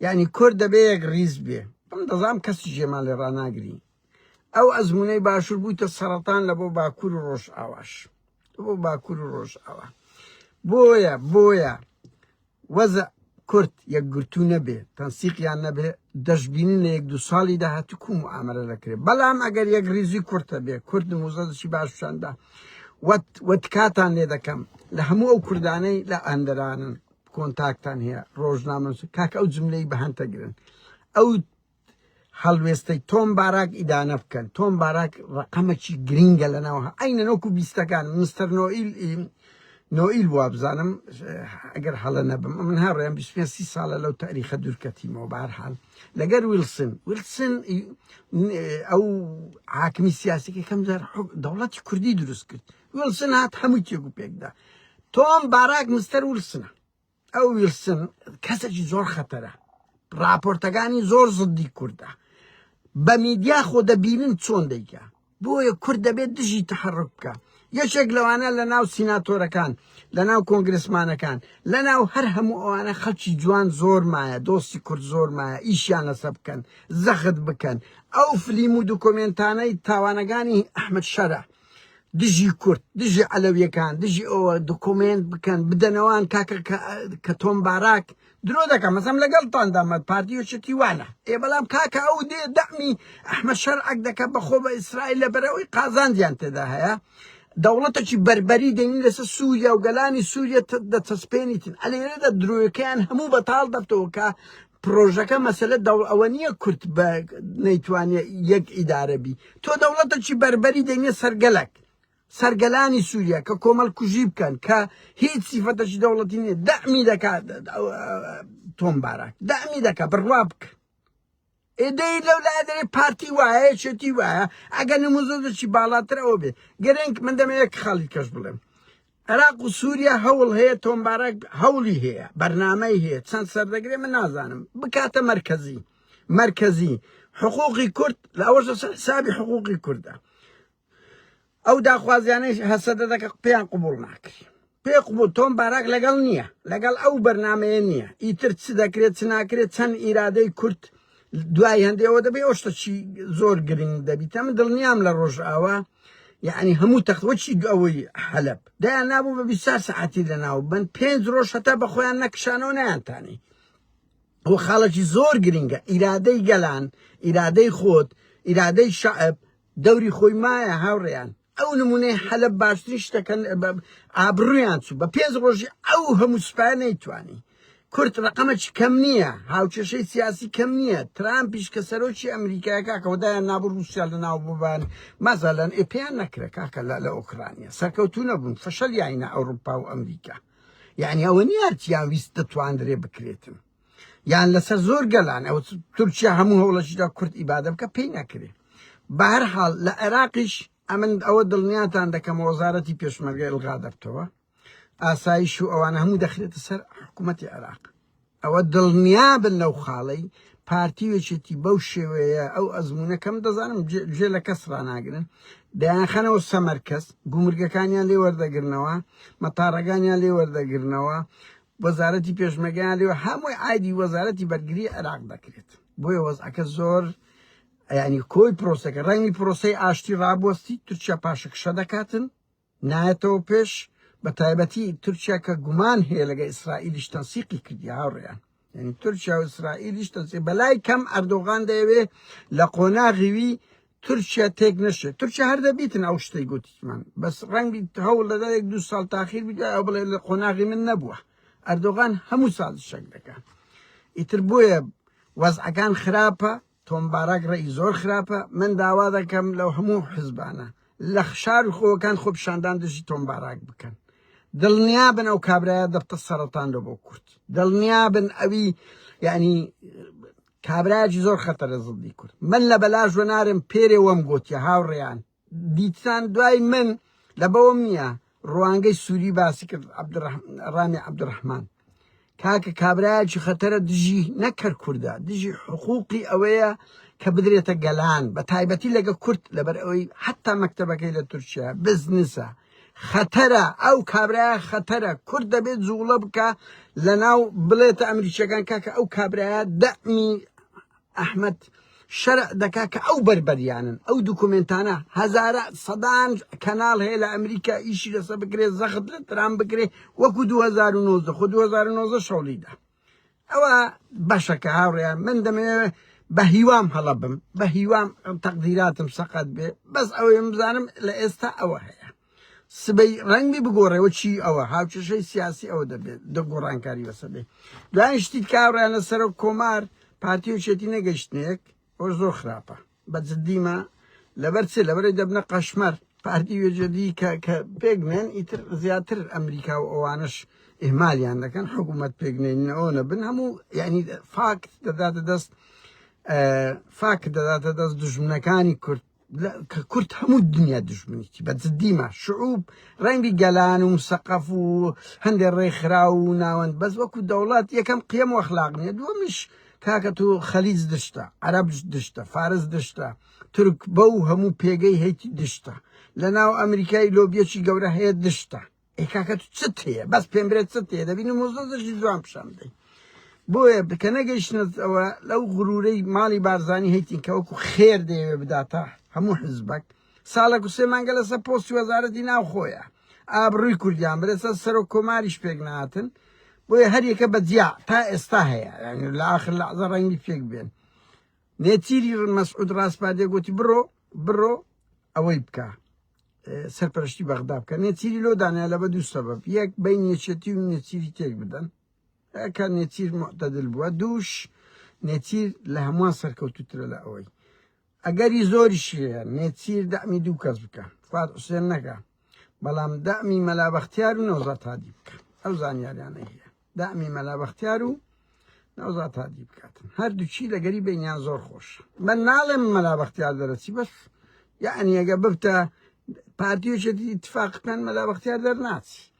یعنی کورد دەبێ یەک ڕیز بێ بم دەزام کەسی ژێمان لێ ڕناگرین ئەو ئەزمونەی باشور بوویتە سەرەتان لە بۆ باکور و ڕۆژئاواش بۆ باکور و ڕۆژئاوا بۆیە بۆیە وەزە کورد یەکگرتو نەبێ تەنسیقیان نەبێ دەشببینین لە یەک دو ساڵی داهاتو کوم و ئامرە دەکرێت بەڵام ئەگەر یەک ریزی کورتە بێ کورد موزەدشی باششاندا وەتکاتان لێ دەکەم لە هەموو ئەو کوردانەی لە ئەندرانن کۆنتاکتان هەیە ڕۆژنامەس کاک ئەو جملەی بەهەن تەگرن ئەو هەڵوێستەی تۆم باراک ئیدانە بکەن تۆم باراک ڕقەمەکی گرینگە لەناو ئەینە نۆکو بیستەکان مستەر نۆئیل نۆئیل بووە بزانم ئەگەر هەڵە نەبم من هاڕێم بیسپێسی ساڵە لەو تاریخە دوورکەتیمەوە بارحال لەگەر ویلسن ویلسن ئەو حاکمی سیاسەکە کەم جار دەوڵەتی کوردی دروست کرد ویلسن هات هەموو تێگو پێکدا تۆم باراک مستەر ویلسنە ئەو ویلسن کەسێکی زۆر خەتەرە راپۆرتەکانی زۆر زدی کوردە بە میدیا خۆ دەبینن چۆن دەیکە بۆیە کورد دەبێت دژی تحرک بکە یەکێک لەوانە لە ناو سیناتۆرەکان لە ناو کۆنگرسمانەکان لە ناو هەر هەموو ئەوانە خەڵکی جوان زۆر مایە دۆستی کورد زۆر مایە ئیشیان لەسە بکەن زەخت بکەن ئەو فلیم و دوکۆمنتانەی تاوانەکانی ئەحمد شەرە دژی کورد دژی عەلەویەکان دژی ئەوە دکۆمێنت بکەن بدەنەوان کاکە کە تۆم باراک درۆ دەکەم مەسەم لەگەڵتاندا مە پارتی و شتی وانە ئێ بەڵام کاکە ئەو دێ دەمی ئەحمە شەرعەک دەکە بەخۆ بە ئیسرائیل لە بەرەوەی قازانجیان تێدا هەیە دەوڵەتەکی بربەری دەین لەسەر سووریا و گەلانی سووریە دەچەسپێنیتن ئەلێرەدا درۆیەکەیان هەموو بەتاڵ دەبتەوە کە پڕۆژەکە مەسەلە دەوڵ ئەوە نییە کورد بە نەیتوانێ یەک ئیدارە بی تۆ دەوڵەتەکی بەربەری دەینێ سەرگەلک سەرگەلانی سووریا کە کۆمەڵ کوژی بکەن کە هیچ سیفەتەکی دەوڵەتی نیە دەمی دەکات تۆم باراک دەمی دەکە بڕوا بکە ئێدەی لەو لا دەێ پارتی وایە چێتی وایە ئەگە نموزۆزەکی باڵاتر ئەوە بێ گەرنگ من دەمەیەک خاڵی کەش بڵێم عێراق و سوریا هەوڵ هەیە تۆمبارەک هەوڵی هەیە بەرنامەی هەیە چەند سەردەگرێ من نازانم بکاتە مەرکەزی مەرکەزی حقوقی کورد لە ئەوەش حسابی حقوقی کوردە ئەو داخوازیانەی هەسەدە دەکە پێیان قوبول ناکری پێ قوبول تۆم باراک لەگەڵ نییە لەگەڵ ئەو بەرنمەیە نییە ئیتر چ دەکرێت چ ناکرێت چەند ئیرادەی کورد دوای هەندێ ئەوە دەبێ ئەو شتە چی زۆر گرنگ دەبیتە من دڵنیام لە ڕۆژئاوا یعنی هەموو تەخوەچی ئەوەی حەلب دایان نابوو بە بیسار سەعاتی لە ناو بن پێنج ڕۆژ هەتا بە خۆیان نەکشانەوە نیانتانی ئەو خاڵێکی زۆر گرنگە ئیرادەی گەلان ئیرادەی خۆت ئیرادەی شعب دەوری خۆی مایە هاوڕێیان ئەو نمونەی حەلەب باشترین شتەکەن ئابڕویان چوو بە پێنج ڕۆژی ئەو هەموو سوپای نەیتوانی کورت ڕقەمەچ کەم نییە هاوکێشەی سیاسی کەم نییە ترامپیش کە سەرۆکی ئەمریکای کاکەوەدایان نابوو رووسیا لە ناو ببان مازالەن ئێپیان نەکرە کاکە لە لە ئۆکرانیا سەرکەوتو نەبوون فشل یاینە ئەوروپا و ئەمریکا یعنی ئەوە نیارتیان ویست دەتواندرێ بکرێتن یان لەسەر زۆر گەلان ئەو تورکیا هەموو هەوڵەشیدا کورد ئیبادە بکە پێی نەکرێ بە هەر حاڵ لە عێراقیش ئەمن ئەوە دڵنیاتان دەکەم وەزارەتی پێشمەرگە ئەلغا دەبتەوە ئاسایش و ئەوانە هەموو دەخرێتە سەر حکوومەتتی عێراق ئەوە دڵنیا بن لەو خاڵەی پارتی وێچێتی بەو شێوەیە ئەو ئەزمونونەکەم دەزانم جێ لە کەس ڕناگرن دەیانخەنەوە سەمەرکەس گومرگەکانیان لێ وەردەگرنەوە مەتارەکانیان لێ وەردەگرنەوە وەزارەتی پێشمەرگەیان لێوە هەمووی ئایدی وەزارەتی بەرگری عێراق دەکرێت بۆیە وەزعەکە زۆر ینی کۆی پرۆسەکە ڕەنگی پرۆسی ئاشتی ڕابوەستی تورکیا پاشەکشە دەکاتن نایەتەوە پێش بە تایبەتی تورکیا کە گومان هەیە لەگە ئیسرائیلیش تەنسیقی کردی هاوڕێیان یعنی تورکیا و ئیسرائیلیش تەنسی بەلای کەم ئەردۆغان دەیەوێ لە قۆناغیوی تورکیا تێک نەشێ تورکیا هەر دەبیتن ئەو شتەی گوتیمان بەس ڕەنگی هەوڵ دەدا یەک دوو ساڵ تاخیر بدا ئەو بڵێ لە قۆناغی من نەبووە ئەردۆغان هەموو ساز شەک دەکەن ئیتر بۆیە وەزعەکان خراپە تۆمبارەک ڕێی زۆر خراپە من داوا دەکەم لەو هەموو حزبانە لە خشار و خۆەکان خۆ پیشاندان دژی تۆمبارەک بکەن دڵنیا بن ئەو کابراە دەفتە سەرەتان لە بۆ کورد دڵنیا بن ئەوی یعنی کابرایەکی زۆر خەتەرە زڵدی کورد من لە بەلاش وە نارم پێرێ وەم گۆتیە هاوڕێیان دیتان دوای من لە بەوەم نییە ڕوانگەی سووری باسی کرد ڕامی عبدڕحمان کاکە کابراایکی خەتەرە دژی نەکەر کووردە دژی حقوقی ئەوەیە کە بدرێتە گەلان بە تایبەتی لەگە کورت لەبەر ئەوەی حتا مەکتتەبەکەی لە تورکیا بزنسە خەتەرە ئەو کابرایە خەتەرە کورد دەبێت جوڵە بکە لە ناو بڵێتە ئەمریکیەکان کاکە ئەو کابرایە دەمی ئەحمد شەرع دەکا کە ئەو بەربەریانن ئەو دوکومنتانە هەزارە سەدان کەناڵ هەیە لە ئەمریکا ئیشی لەسە بکرێت زەخت لە ترام بکرێت وەکو 2009 خو 2009 شەڵیدا ئەوە بەشە کە هاوڕێیان من دەمەوێت بە هیوام هەڵە بم بە هیوام تەقدیراتم سەقەت بێ بەس ئەوەی بزانم لە ئێستا ئەوە هەیە سبەی ڕەنگی بگۆڕێەوە چی ئەوە هاوچەشەی سیاسی ئەوە دەبێت دە گۆڕانکاری بەسە بێ دوای شتی کاڕیان لە سەرۆک کۆمار پارتیوچێتی نەگەشتنێک ئەو زۆر خراپە بە جدی مە لەبەر چ لەبەرەی دەبنە قەشمەر پارتی وێژەدی کە کە پێگنێن ئیتر زیاتر ئەمریکا و ئەوانش ئهمالیان دەکەن حکوومەت پێگنێنەوە نەبن هەموو یعنی فاکت دەداتە دەست فاکت دەداتە دەست دژمنەکانی کورد کە کورد هەموو دنیا دژمنیی بە جدیمە شعوب ڕەنگی گەلان و مسەقەف و هەندێک ڕێکخرا و ناوەند بەس وەکو دەوڵات یەکەم قیەم وەخلاق نیە دووەمش کاکە تۆ خەلیج دشتە عەرەب دشتە فارس دشتە تورک بەو هەموو پێگەی هەیتی دشتە لە ناو ئەمریکای لۆبیەکی گەورە هەیە دشتە ئەی کاکە تو چت هەیە بەس پێم برێت چت هەیە دەبینی مۆزدەشی جوان پیشان بدەین بۆیە بکە نەگەیشتنەوە لەو غرورەی ماڵی بارزانی هەیتین کە وەکو خێر دەیەوێ بداتە هەموو حزبەک ساڵێک و سێ مانگە لەسەر پۆستی وەزارەتی ناوخۆیە ئابڕوی کوردیان برێ سەر سەرۆک کۆماریش پێک ناتن بۆیە هەریەکە بە جیا تا ئێستا هەیە یعنی لە آخر لەعزە ڕەنگی پێک بێن نێچیری مەسعود ڕاسپاردێ گوتی بڕۆ بڕۆ ئەوەی بکە سەرپەرشتی بەغدا بکە نێچیری لۆ دانیا لە بە دوو سەبەب یەک بین نێچێتی و نێچیری تێک بدەن کە نێچیر معتەدل بووە دووش نێچیر لە هەمووان سەرکەوتوترە لە ئەوەی ئەگەری زۆریشی هەیە نێچیر دەعمی دوو کەس بکا فواد حوسێن نەکا بەڵام دەعمی مەلا بەختیار و نەوزات هادی بکە ئەو زانیاریانە هەیە دەعمی مەلا بەختیار و نەوزات هادی بکاتن هەردووچی لەگەری بینیان زۆر خۆش من ناڵێم مەلا بەختیار دەرەچی بەس یعنی ئەگە ببتە پارتیوچێتی اتفاق بکەن مەلا بەختیار دەرناچی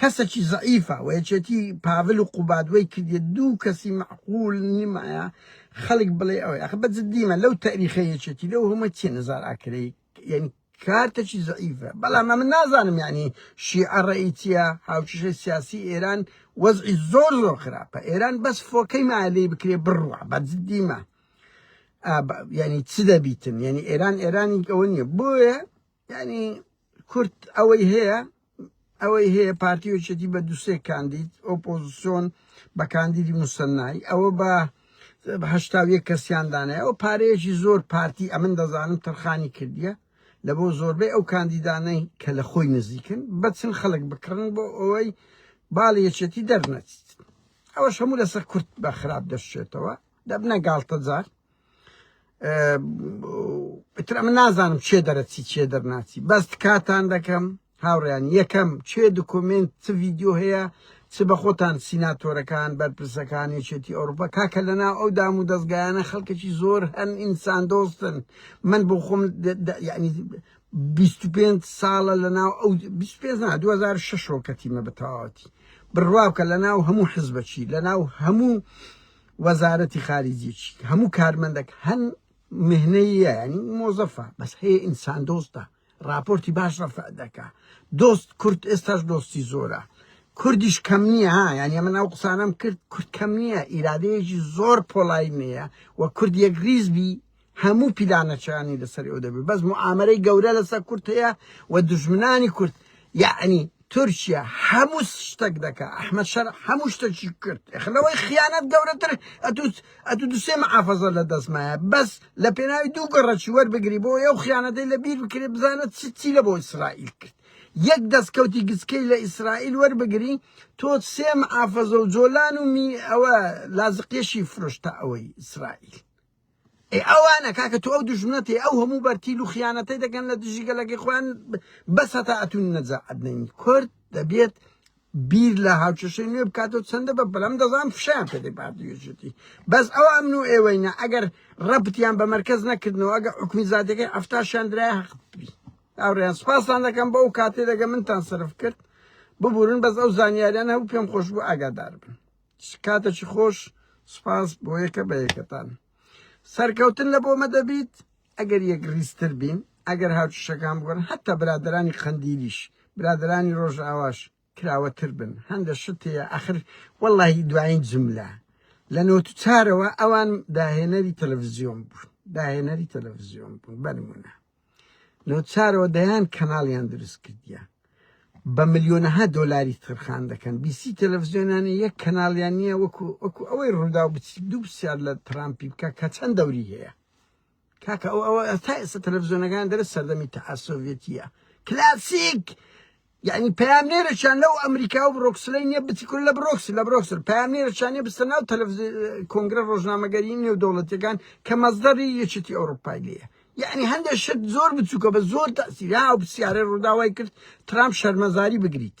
کەسەکی زەعیفە وە یەکێتی پاڤل و قوباد وەی کردیە دوو کەسی مەعقول نیمایە خەلک بڵێ ئەوەی ئەخە بە جدی مە لەو تەئریخە یەکێتی لەو هەمە چیە نزار ئاکرەی یەنی کارتەکی زەعیفە بەڵام ئەمە نازانم یەعنی شیعە ڕێی چیە هاوکیشەی سیاسی ئێران وەزعی زۆر زۆر خراپە ئێران بەس فۆکەی مالی بکرێ بڕوە بە جدی مە یەنی چ دەبیتن یەنی ئێران ئێرانی ئەوە نیە بۆیە یانی کورد ئەوەی هەیە ئەوەی هەیە پارتی وچێتی بە دوسێ کاندید ئۆپۆزیسۆن بە کاندیدی مسنایی ئەوە بە هەشتاویە کەسیاندانەیە ئەو پارەیەکی زۆر پارتی ئەمن دەزانم تەرخانی کردیە لە بۆ زۆربەی ئەو کاندیدانەی کە لە خۆی نزیکن بەچن خەڵک بکڕن بۆ ئەوەی باڵ یەکێتی دەرنەچیت ئەوەش هەموو لەسەر کورت بە خراپ دەشێتەوە دەبنە گاڵتەجار ئیتر ئەمە نازانم چێ دەرەچی چێ دەرناچی بەس کاتان دەکەم هاوڕیان یەکەم چێ دکۆمنت چ ڤیددیو هەیە چ بە خۆتان سیناتۆرەکان بەرپرسەکانی چێتی ئەوروپا کاکە لەنا ئەو دام و دەستگایانە خەڵکەکی زۆر هەن ئینسان دۆستن من بۆ خۆم یعنی 25 ساڵە لە ناو ئەو 25 2006 کەتیمە بە تەواوەتی بڕوا بکە لە ناو هەموو حزبەکی لە ناو هەموو وەزارەتی خارجیەکی هەموو کارمەندەک هەن مهنەیە ینی مۆزەفە بەس هەیە ئینسان دۆستە راپۆرتی باش ڕەفع دەکا دۆست کورد ئێستاش دۆستی زۆرە کوردیش کەم نییە ها یان ئەمە ناو قسانم کرد کورد کەم نییە ئیرادەیەکی زۆر پۆڵای نییە و کورد یەک ریزبی هەموو پیلانەچانی لەسەر ئێوە دەبێت بەس معامەرەی گەورە لەسەر کورد هەیە و دژمنانی کورد یعنی تورکیا هەموو شتەک دەکە ئەحمد شەر هەموو شتەکی کرد خلەوەی خیانەت گەورەتر ئەتوت ئەتو دوسێ محافظە لە دەستمایە بەس لە پێناوی دوو گەڕەکی وەربگری بۆ ئەو خیانەتەی لە بیر بکرێت بزانە چ چی لە بۆ ئیسرائیل کرد یەک دەستکەوتی گچکەی لە ئیسرائیل وەربگری تۆ سێ محافظە و جۆلان و می ئەوە لازقێشی فرۆشتە ئەوەی ئیسرائیل ئێ ئەوانە کاکە تۆ ئەو دژمنەت ئەو هەموو بەرتیل و خیانەتەی دەکەن لە دژی گەلەکەی خۆیان بەس هەتا ئەتون نەجا ئەدنین کورد دەبێت بیر لە هاوچەشەی نوێ بکاتەوە چەندە بە بەلام دەزان فشیان پێ دەپاردێژێتی بەس ئەو ئەمن و ئێوەینە ئەگەر ڕەبتیان بە مرکز نەکردنەوە ئەگە حکومی زادەکەی ئەفتاشیان درای حەقبی ئەوڕێن سپاسان دەکەم بە ئەو کاتێ دەگە منتان سرف کرد ببورن بەس ئەو زانیاریان هەبوو پێم خۆش بوو ئاگادار بن کاتەکی خۆش سپاس بۆ یەکە بە یەکەتان سەرکەوتن لە بۆمە دەبیت ئەگەر یەک ریزتر بین ئەگەر هاوچشەکان بگەن هەتا برادرانی قەندیلیش برادرانی ڕۆژ ئاواش کراوەتر بن هەندە شتەیە ئەخر واللهی دوایین جملە لە نۆ چارەوە ئەوان داهێنەری تەلەڤزیۆن بوون داهێنەری تەلەڤزیۆن بوون بەنمونە نوچارەوە دەیان کەناڵیان دروست کردیە بە ملیۆنەها دۆلاری ترخان دەکەن بیسی تەلەڤزیۆنانە یەک کەناڵیان نییە وەکو وەکو ئەوەی ڕوودا و بچی دوو پرسیار لە ترامپی بکە کە چەند دەوری هەیە کاکە ئەو ئەوە تا ئێستا تەلەڤزیۆنەکان دەرە سەردەمی تەعسۆڤێتیە کلاسیک یەعنی پەیامنێرێکیان لەو ئەمریکا و برۆکسلەی نیە بچی کورە لە برۆکسل لە برۆکسل پەیامنێرێکیان نیە بچتە ناو تەلەفزی کۆنگرە ڕۆژنامەگەری نێودەوڵەتیەکان کە مەزدەری یەکێتی ئەوروپای لێیە یەعنی هەندێک شت زۆر بچووکە بە زۆر تەسیری ها پرسیارە ڕووداوای کرد ترامپ شەرمەزاری بگریت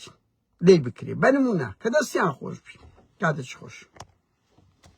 لێی بکرێ بە نمونە کە دەستیان خۆش بی کاتێکی خۆش